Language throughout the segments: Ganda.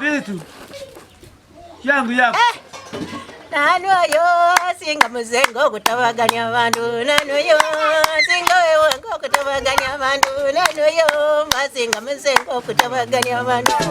Vitu yangu yako eh. Nani oyo singa muzengo okutabaganya abantu nani oyo singa wewange okutabaganya abantu nani oyo masinga muzengo okutabaganya abantu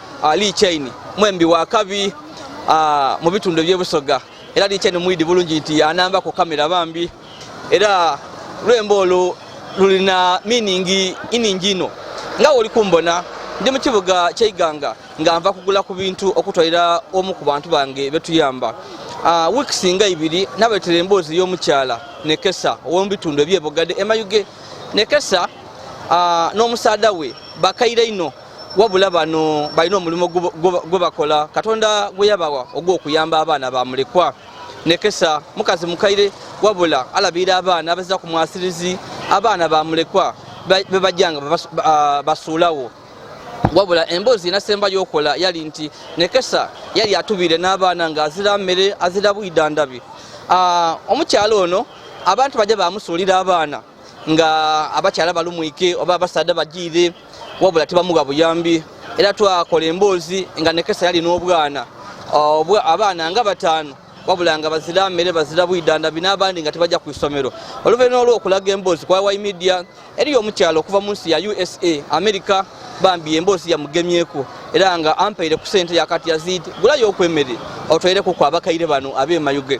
Ali Chain mwembi wa kabi ah, mu bitundu eby'ebusoga era Ali Chain mwidi bulungi nti anamba ku kamera bambi era lwembo olwo lulina miningi iningi ino nga oli kumbona ndi mu kibuga kyeiganga nga nva kugula ku bintu okutwalira omu ku bantu bange betuyamba ah, weeks nga ibiri nabetera emboozi y'omukyala nekesa ow'omubitundu ebyebogadde emayuge nekesa ah, n'omusaada we bakaire ino wabula bano balina omulimu gwe bakola katonda gwe yabawa ogw'okuyamba abaana ba mulekwa nekesa mukazi mukaire wabula alabira abaana abazza ku mwasirizi abaana ba mulekwa bebajjanga ah, basuulawo wabula emboozi enasemba yokola yali nti nekesa yali atubire n'abaana nga azira mmere azira bwidandabi ah, omukyalo ono abantu bajja bamusuulira abaana nga abakyala balumwike oba abasaadha bajiire wabula tebamuwa buyambi era twakola emboozi nga nekesa yali n'obwana abaana nga bataano wabula nga bazira mmere bazira bwidanda bina abandi nga tebajja ku isomero oluvannyuma olw'okulaga emboozi kwa y media eriyo omukyalo okuva mu nsi ya usa america bambi emboozi yamugemyeko era nga ampaire ku sente yakati yazid gulayo okwemere otwaireku ku abakaire bano abemayuge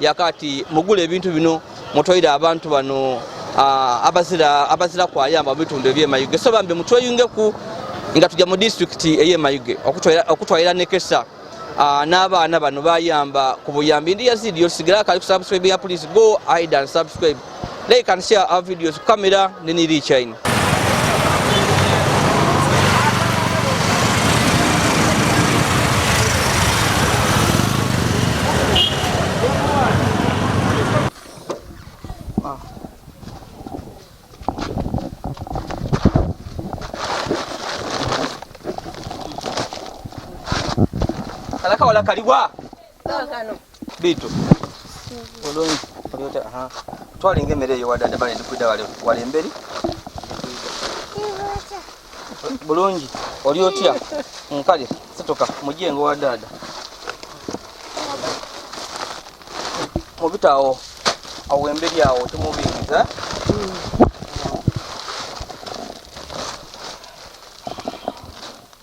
yakati mugula ebintu bino mutwaire abantu bano abazira abazira kwayamba mubitundu ebyemayuge so bambi mutweyungeku nga tujja mu disitulikiti eyemayuge okutwalira nekesa n'abaana bano bayamba ku buyambi ndi yazidi yosigala akali ku subscribe ya please go id and subscribe Like and share our videos. Kamera ni Nili Chain. Kalaka wala kaliwa. bitu bulungi olyota aha twalinga emmere eyo wadada bale ndikwida wali emberi bulungi oli otya nkale situka mujengo wa dada mubitaawo awo emberi awo tumubingiza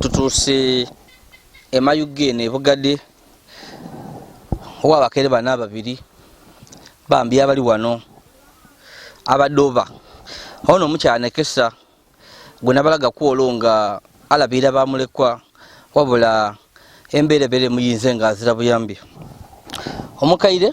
tutuuse emayugga eno ebugade owa abakere bana ababiri bambi abali wano abadoba ono omukyala nekesa gwe nabalaga kwolo nga alabiira bamulekwa wabula embeerebere muyinze nga azira buyambi omukaire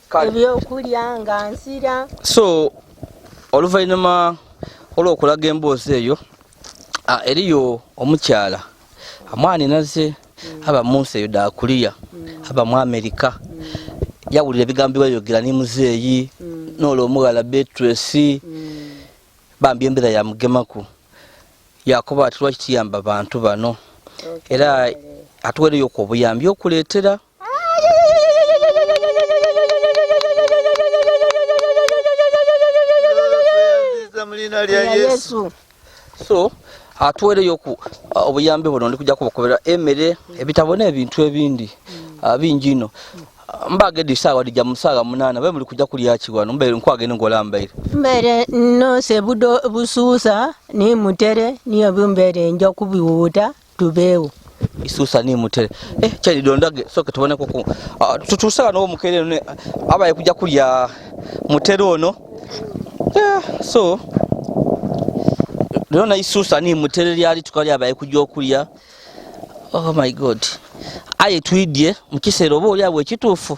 ebyokulya nga nsira so oluvannyuma olw'okulaga emboozi eyo eriyo omukyala amwani naze mm. aba munsi eyo dakuliya mm. aba mu amerika mm. yawulira ebigambo byeyogera ni muzeeyi noolwo omughala betresi bambi embeera yamugemaku yakuba ati lwaki kiyamba bantu bano era atuwereyo ku obuyambi okuleetera so atuwereyo ku uh, obuyambi buno ndi kujja kubakubira emere ebitabo n'ebintu ebindi uh, bingi ino mbagede sawa dija musaga munana be muli kuja kulya kiwano mbere nkwage ne ngola mbere mbere no se budo bususa ni mutere ni obumbere njo kubiwuta tubeewo isusa ni mutere eh chali dondage soke tubone kuku ah, tutusala no mukere ne abaye kuja kulya mutere ono yeah, so lona isusa ni mutere lyali tukali abaye kuja okulya oh my god aye twidye mukisero bo lyabwe kitufu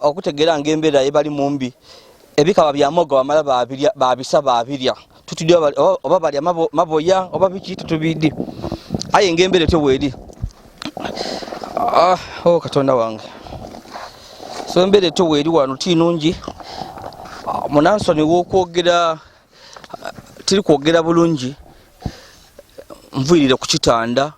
okutegeera nga embeera yebali mumbi ebikaba bya moga wamala babirya babisa babirya tutudde oba balya maboya oba biki tutubidde aye nga embeera etyo weeri ah, o oh, katonda wange so embeera etyo weeri wano ti nungi ah, munansoni wokwogera tiri kwogera bulungi nvuyirire ku kitanda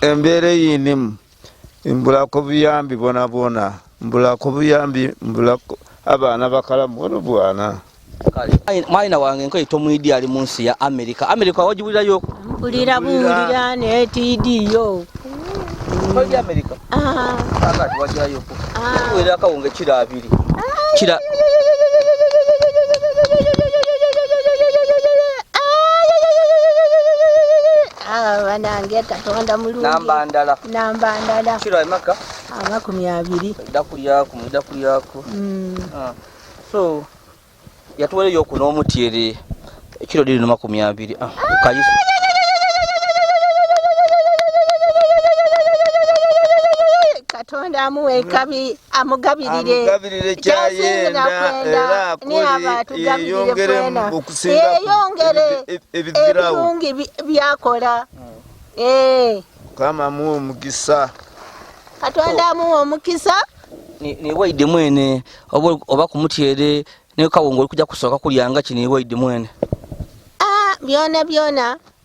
embeera eyinimu mbulako buyambi bona bona mbulako buyambi mbulako abaana bakalamu ono bwana mwana wange nkoye tomwidi ali munsi ya amerika amerika wajibulirayo mpulira buwulira naye tiidiyo toli amerika ah. kakati wajirayoko ah. wera akawunga ekiro abiri ah. kira Ah, banange katonda mulungi namba ndala namba ndala kiro emaka amakumi abiri dakulyaku mudakulyaku mm. ah. so yatuwereyo oku n'omutyere ekiro liri nomakumi abiri ah, kayisi katonda amuwa ekabi amugabirire amugabirire kyayenda era akuli yeyongere okusinga yeyongere ebirungi byakola eh. kama muwe omukisa katonda amuwa omukisa newaide mwene oba kumutyere nekawongo oli kuja kusooka kulyanga ki newaide mwene ah, byona byona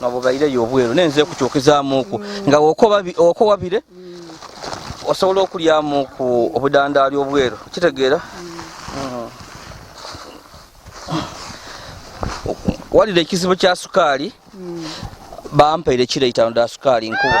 nga bwebaireyo obweru naye nze kukyukizamuku nga okowabire osobola okulyamu ku obudandaali obweru kitegeera mm. walira ekizibu kya sukaali mm. bampaire kireitano da sukaali nkuba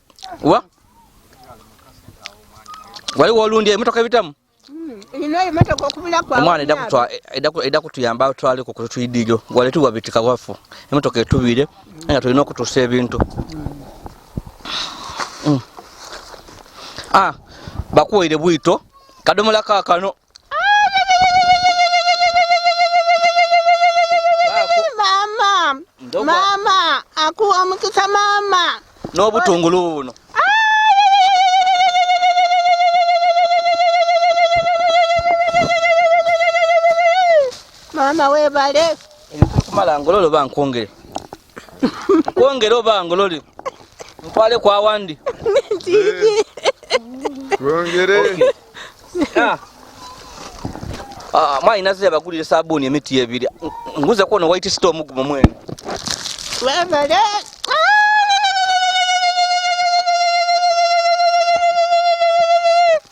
wa wali wolundya emotoka ebitamu omwana edda kutuyamba atwale ku kutuyidijo wali tuwabitika wafu emotoka etubire nga tulina okutusa ebintu mm. ah, bakuwaire bwito kadomola kakano mama mama akuwa omukisa mama n'obutungulu buno mama webale ebikumala ngololo bankwongere kwongera oba ngolole nkwale kwa wandi kwongere ah. ah, mwayi naze yabagulire sabuuni emiti ebiri nguze kwona white store omugumu mwene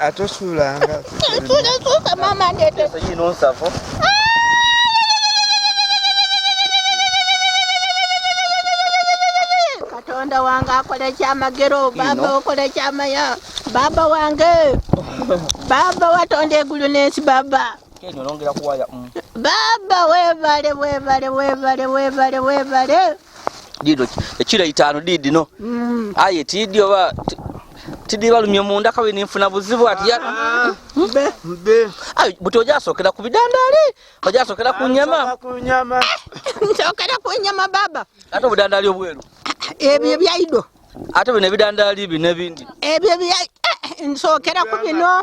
atosuulanga mama ndete katonda wange akola ekyamagero baba okola ekyamaya baba wange baba watonda egulu n'ensi baba Mm. Baba webale webale webale webale webale dido ekiro itaano diidi no mm. aye tiidi oba tiidi balumye munda kawe ninfuna buzibu ati ya ah, mbe mbe ayi buti ojasokera ku bidandaali ojasokera ku nyama ku nyama nsokera ku nyama baba ate obudandaali obweru ebyo ebyaido ate bino ebidandaali bino ebindi ebyo ebya eh, nsokera ku bino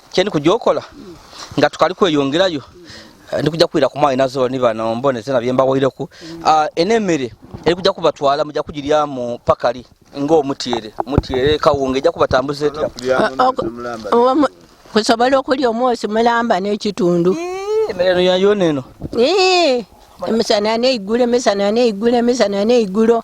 kyendi kujja okola nga tukali kweyongerayo ndi kujja kuwira ku mwana nazo ni bano mbone tena byemba wayireku mm. ah, enemere eri kujja kubatwala mujja kugirya mu pakali nga omutiere mutiere kawunga ejja kubatambuza etya kusobola okulya omwosi mulamba n'ekitundu emere eno yayona eno emisana neigulo emisana neigulo emisana neigulo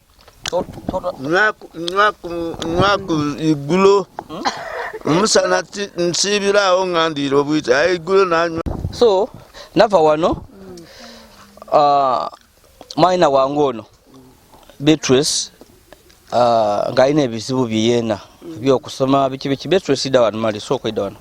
nwaku iggulo hmm? omusana nsiibiraawo nga ndiira obwita aye iggulo nanywa so nava wano uh, mwana wange ono beatrice uh, ng'alina ebizibu byeyeena byokusoma biki biki beatrice ida wano mali sooka ida wano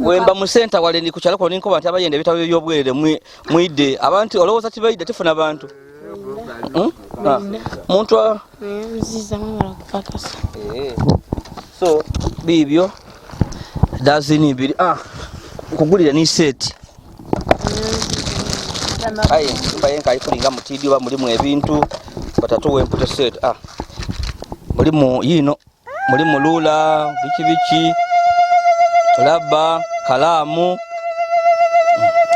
wemba mu center wale ni kukyalo kuno ninkoba nti abayenda ebitabo by'obwerere mwidde abantu olowooza tibaidde tefuna bantu hmm? ah. muntu eh. so biibyo dazini ibiri ah, nkugulire ni seeti aye nyumba ye nkaali kulinga mutiidi oba mulimu ebintu batatuwa emputa seeti ah, mulimu yiino muli mulula biki biki laba kalaamu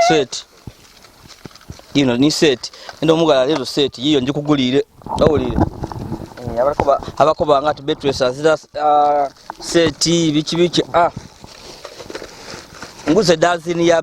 seti ino ni seti enda omugala leero seti yiyo njikuguliire awulire eh, abakoba nga ti betwesa zira ah, seti biki biki ah. nguze dazini ya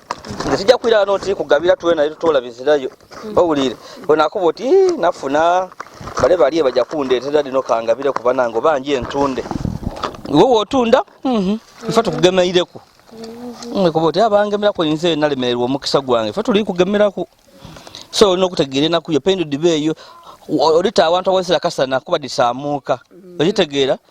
nze tujja kuira no nti kugabira tuwe naye tutola bizirayo mm. owulire onakuba oti nafuna bale bali baja kundeetera lino kangabire kuba nango bangi entunde iwe wotunda mm-hmm. ife tukugemeireko mm-hmm. kuba oti abangemerako nze nalemererwa omukisa gwange ife tuli kugemerako so olina okutegeera enaku yo pendudba eyo olita awantu awazira kasana kuba disaamuuka mm. okitegeera mm -hmm.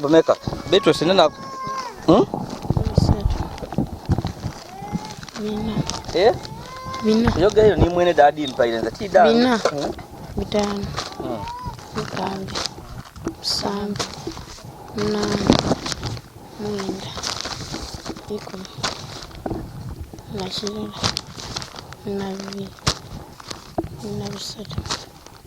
Bumeka. Beatrice nina hmm? Bina. Eh? Bina. Yoga hiyo ni mwene dadi mpaile nza ti dadi. Bina. Hmm? Bitano. Hmm. Mukande. Samba. Nana. Mwenda. Iko. Nashirira. Nabi. Nabi sata.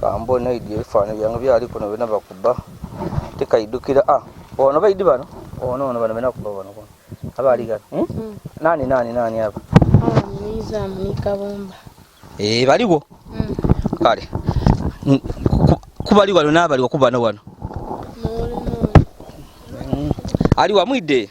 kambo naidi ebifaananyi byange byali kuno byona bakuba tekaidukira a ah, ono baidi bano ono ono bano bena kuba bano kuno abaali gano hmm? hmm. nani nani nani abo eh, baliwo hmm. kale kubali wano nabaliwo kubano wano ali wamwidde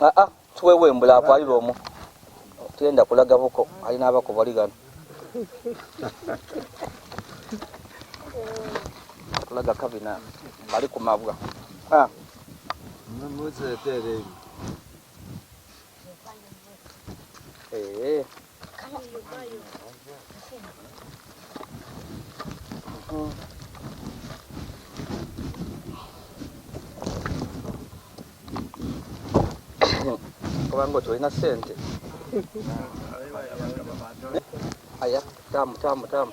Ah, ah, tuwewe mbula akwalira omu tugenda kulaga buko ali n'abako bali gano kulaga kabina bali ku mabwa ah. Eh. kubanga oti olina sente aya tamu tamu tamu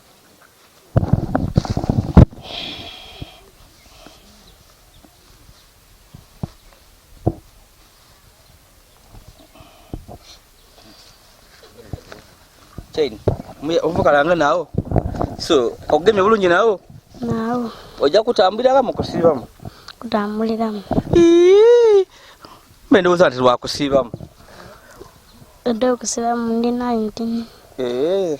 chain ovukalanga nawo so okugemye bulungi nawo nawo ojja kutambuliramu kusiibamu kutambuliramu mbe ndowooza nti lwakusiibamu odde okusiibamu ndi 19 ee eh.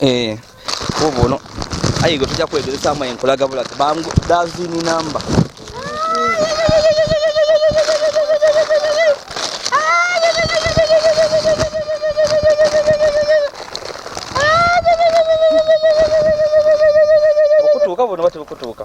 eh obo no ayi go tuja kwedele sama en kulaga bula bangu dazi ni namba Kutuka bona bati kutuka.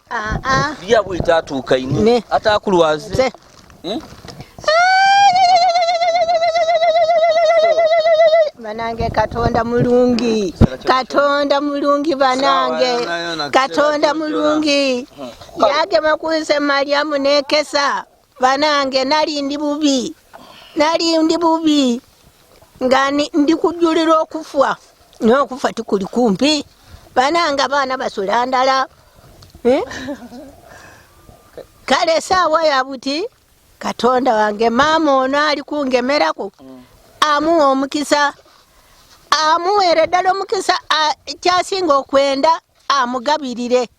Ah, ah. Bia bwita atuuka ine atakulwaze hmm? banange katonda mulungi katonda mulungi banange katonda mulungi hmm. yagema kunse mariamu nekesa banange nali ndi bubi nali ndi bubi nga ndi kujulira okufwa nokufa tikuli kumpi banange abaana basula ndala eh? kale esaawa yabuti katonda wange maama ono ali kungemerako amuwa omukisa amuweere ddala omukisa kyasinga okwenda amugabirire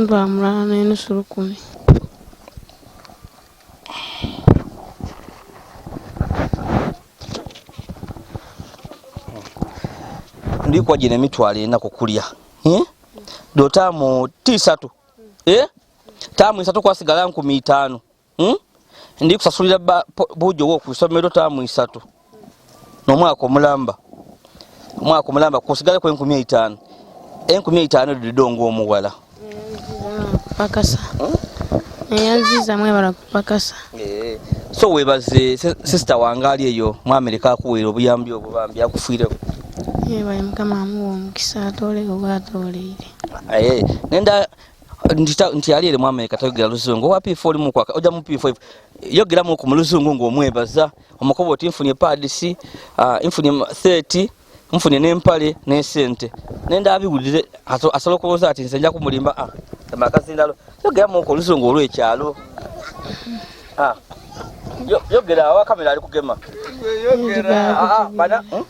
Mba mulala n'enusu lukumi. ndikwa gino emitwalo ena kukulya eh? do taamu tisatu eh? taamu esatu kwasigala nkumi itaano hmm? ndi kusasulira buujo wo ku isomero taamu isatu n'omwaka omulamba omwaka omulamba kusigale ku enkumi eitaano enkumi eitaano edo didonga omuwala pakasa eyanziza mwebala kupakasa eh, so webaze sisita wange ali eyo mu amerika akuweera obuyambi obwo bambi akufiireko yebaye mukama amuwa omukisa atoole oba atooleire eh, nenda nti yali eri mwamerika tayogera luzungu owa p4 oli mukwaka ojja mu p5 yogeramu ku muluzungu ng'omwebaza omukoba oti nfunye paadisi ah, nfunye 30 nfunye n'empale n'esente nenda abiwulire asobola okulowooza ati nze nja kumulimba ah, amakazindalo yogeramu ku oluzungu olw'ekyalo ah, yogera awa kamera ali kugema hmm?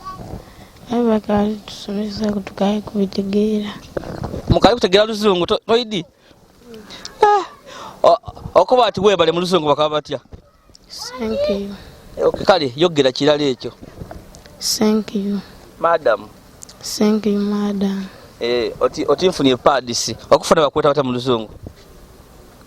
tusomesa kutukaye kubitegeera mukaye kutegeera luzungu toidi eh, okuba ati webale mu luzungu bakaba batya kale yogera kirala ekyo madam eh, oti nfunye padisi okufuna bakweta bata mu luzungu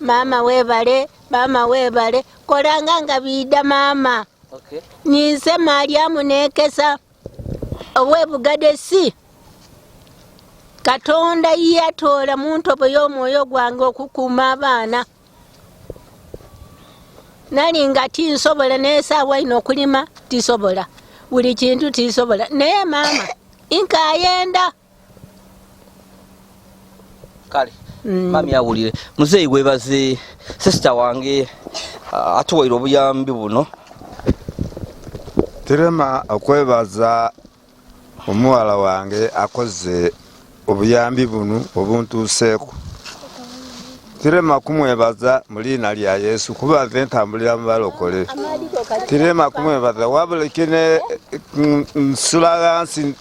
maama webale maama webale kolanga nga biida maama okay. ninze malyamu nekesa owebugade si katonda yatoola mu ntobo y'omwoyo gwange okukuuma abaana nali nga tinsobola nesaawa ino okulima tisobola buli kintu tisobola naye maama inkayenda kale mm. mami awulire muzeeyi webaze sisita wange uh, atuwaire obuyambi buno tirema okwebaza omuwala wange akoze obuyambi bunu obuntuuseeku tirema kumwebaza mu liina lya yesu kuba nze ntambulira mu balokole tirema kumwebaza wabula kine mm, nsula ghansi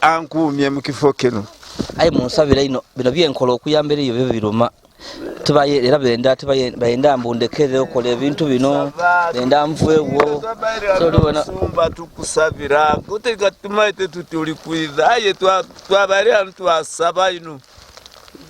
ankuumye mu kifo kino aye munsabira ino bino byenkola okuyambira eyo byo biruma tubaye era benda tubaye bayenda mbundekere okola ebintu bino benda mvuewo tolibona sumba tukusabira kote katumaite tutuli kwidha aye twabali antu asaba ino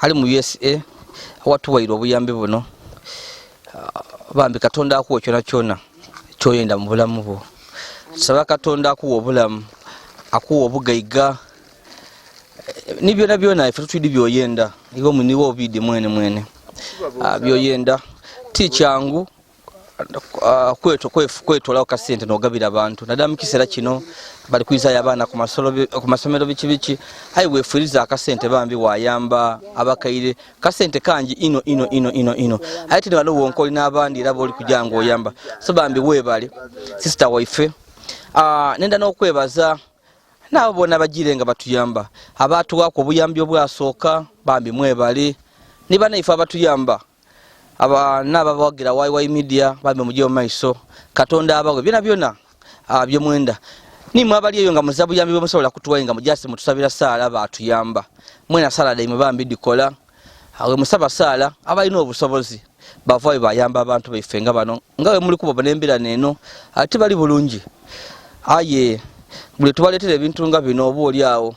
ali mu usa awatuwaire obuyambi buno ah, bambi katonda akuwa kyona kyona kyoyenda mu bulamu bwo saba katonda akuwa obulamu akuwa obugaiga eh, ni byona byona ife tutwidi byoyenda iwe muniwe obidi mwene mwene ah, byoyenda ti kyangu Ah, kwetolawo kasente nogabira abantu nadala mukisera kino bali kuizayo abaana kumasomero biki biki aye wefuriza akasente bambi wayamba abakaire kasente kangi ino ino ino ino ino aye tini waliwo wonka olina abandi era boli kujanga oyamba so bambi webale sister waife ah, nenda nokwebaza naabo bona bajire nga batuyamba abatuwako obuyambi obwasooka bambi mwebale nibanaife abatuyamba abana ababawagira yy media bambi mujje mumaiso katonda abawe byona byona ah, byemwenda nimwe abali eyo nga muzabuyambi bwemusobola kutuwaye nga mujasi mutusabira saala batuyamba mwena saala daime bambi dikola awe musaba saala abalina obusobozi bavayo bayamba abantu baife nga bano nga wemuli kuba nembira neno ati bali bulungi aye buli tubaletera ebintu nga bino oba oli awo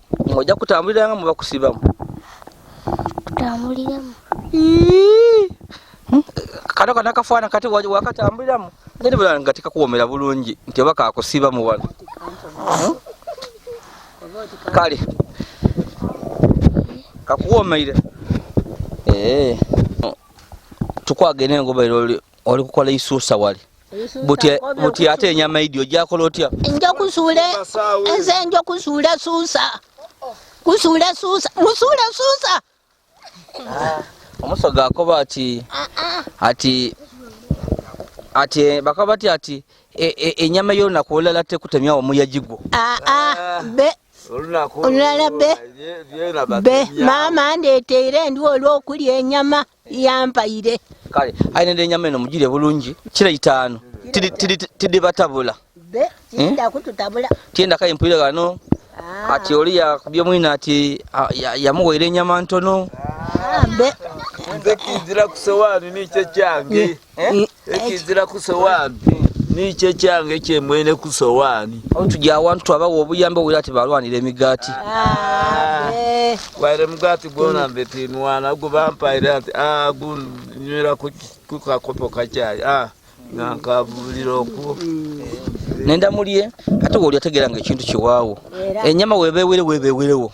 ng'ojja kutambulira nga muba kusibamu kutambuliramu hmm? kano kana kafaana kati wakatambuliramu ngeri bula nga tekakuwomera bulungi nti oba kakusibamu wano hmm? kale kakuwomeire eh. tukwagenda engoberero oli kukola isuusa wali buti ate enyama idi ojakola otya nja kusuula enze nja kusuula suusa kusuula suusa musuula suusa ah, omusoga akoba ati ah, ah. ati ati eh, bakaba bati ati e, e, enyama yo nakuolala tekutemya omuyajigwo olulala be mama ndeteire ndi olwokulya enyama yampaire kale ainende enyama eno mugire bulungi kira itaano tidi batabula hmm? tienda kaye mpulire gano ah. ati oli yakubye mwina ati yamuwaire enyama ntono ah, nze kizira kusowaani nikyo kyange Eh? ekizira ku sowaani nikyo kyange kyemwene ku sowaani tujja awantu twabawa obuyambi obwira ti balwanira emigaati waire mugaati gwona nze tinwana gubampaire ati ah, gunywera ku kakopo kakyayi ah, nga nkabulira okwo nenda mulye ate woli ategeera nga ekintu kiwaawo enyama webeewere webeewerewo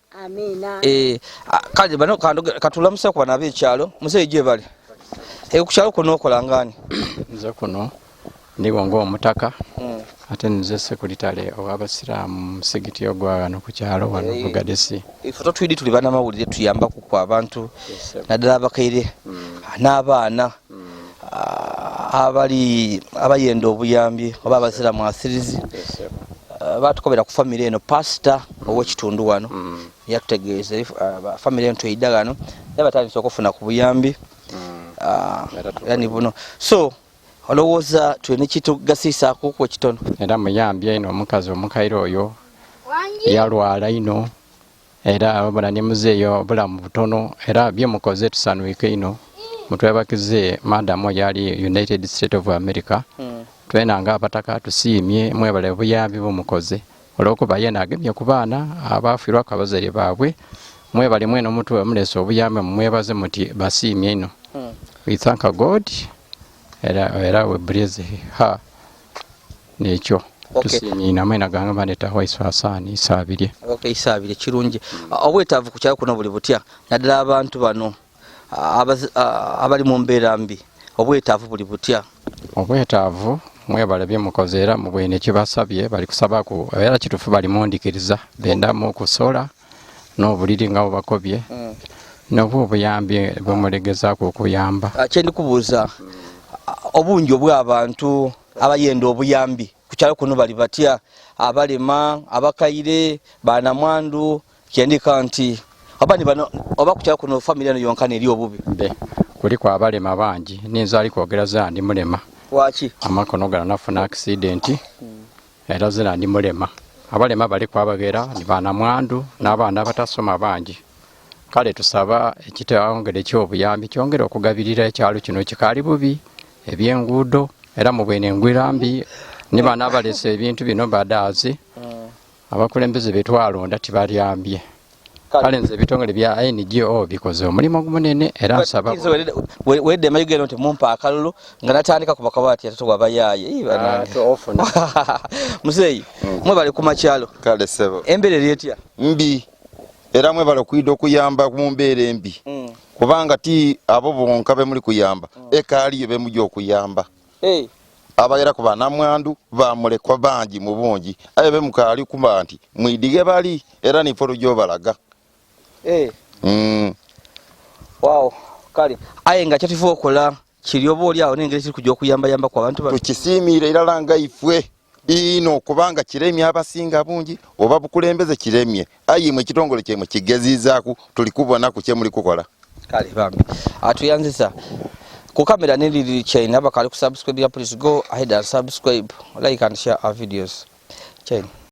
Amina. Eh, kale bano kandoge katulamuse kwa nabe chalo. Mzee je bali. E ku chalo kuno kola ngani? Mzee kuno ndi wango omutaka. Mm. Ate nze sekuritale owaba siram sigiti ogwa no ku chalo wano hey. bugadesi. E foto twidi tulibana mawulire tuyamba ku kwa abantu. Yes, Nadala bakaire. Mm. N'abaana. abali abayenda obuyambi oba abazira mwasirizi eh, batukobera ku famiry eno pasita owekitundu wano mm. yatutegeeza eh, famiry eno tweyida gano naye batandisa okufuna ku buyambi mm. ah, yani buno so olowooza tulina kitugasiisaako ku ekitono era muyambye ino omukazi omukaire oyo yalwala ino era wabula ne muzeeyo obulamu butono era bye mukoze tusanuike ino mutwebakize madamu yali united state of america hmm. twena nga abataka tusiimye mwebale buyambi bumukoze olwokuba yena agemye ku baana abaafirwako abazadde baabwe mwebale mwena omuntu wemulesa obuyambi mumwebaze muti basiimye ino hmm. we thank god era, era we praise her nekyo tusiimye inamwe naganga bandeeta waiso asaani isaabirye okay isaabirye kirungi obwetaavu ku kyalo kuno buli butya naddala abantu bano abali mu mbeera mbi obwetaavu buli butya obwetaavu mwebale byemukoze era mubwene kibasabye bali kusabaku era kitufu bali mundikiriza bendamu kusola n'obuliri nga bubakobye mm. nobwo obuyambi bwemulegezaako okuyamba ah, kyendi kubuuza obungi obw'abantu abayenda obuyambi ku kyalo kuno bali batya abalema abakaire banamwandu kyendika nti oba nibano oba ku kyalo kuno famiry eno yonka neri obubi be kuliko abalema bangi ninza ali kwogera za ndi mulema waki amakono gala nafuna akisidenti era zina ndi mulema abalema bali kwabagera ni banamwandu n'abaana abatasoma bangi kale tusaba ekitawongere ky'obuyambi kyongere okugabirira ekyalo kino kikaali bubi ebyenguudo era mu bwene engwira mbi ni baana abalesa ebintu bino badaazi abakulembeze betwalonda tibalyambye kale nze ebitongole bya ngo bikoze omulimu ogumunene era nsaba wedde mayugero nti mumpa akalulu nga natandika ku bakaba ati atoto wabayaaye ah, muzeeyi mm. mwebale ku makyalo kale sebo embeera eri etya mbi era mwebale okuyida okuyamba mu mbeera embi mm. kubanga ti abo bonka bemuli kuyamba mm. ekaaliyo bemuli okuyamba hey. abaira ku banamwandu bamulekwa bangi mu bungi aye be mukaali kuba nti mwidige bali era nifo lujobalaga hey. mm. wow. kale aye nga kyatifu okola kiri oba oli awo nengeri kiri kujja okuyambayamba ku abantu tukisiimiira era langa ifwe biino kubanga kiremye abasinga bungi oba bukulembeze kiremye ayi mwe kitongole kye mu kigezizaku tuli kubona ku kye muli kukola kale bambi atuyanzisa ku kamera ne lili chain abakali ku subscribe ya please go ahead and subscribe like and share our videos chain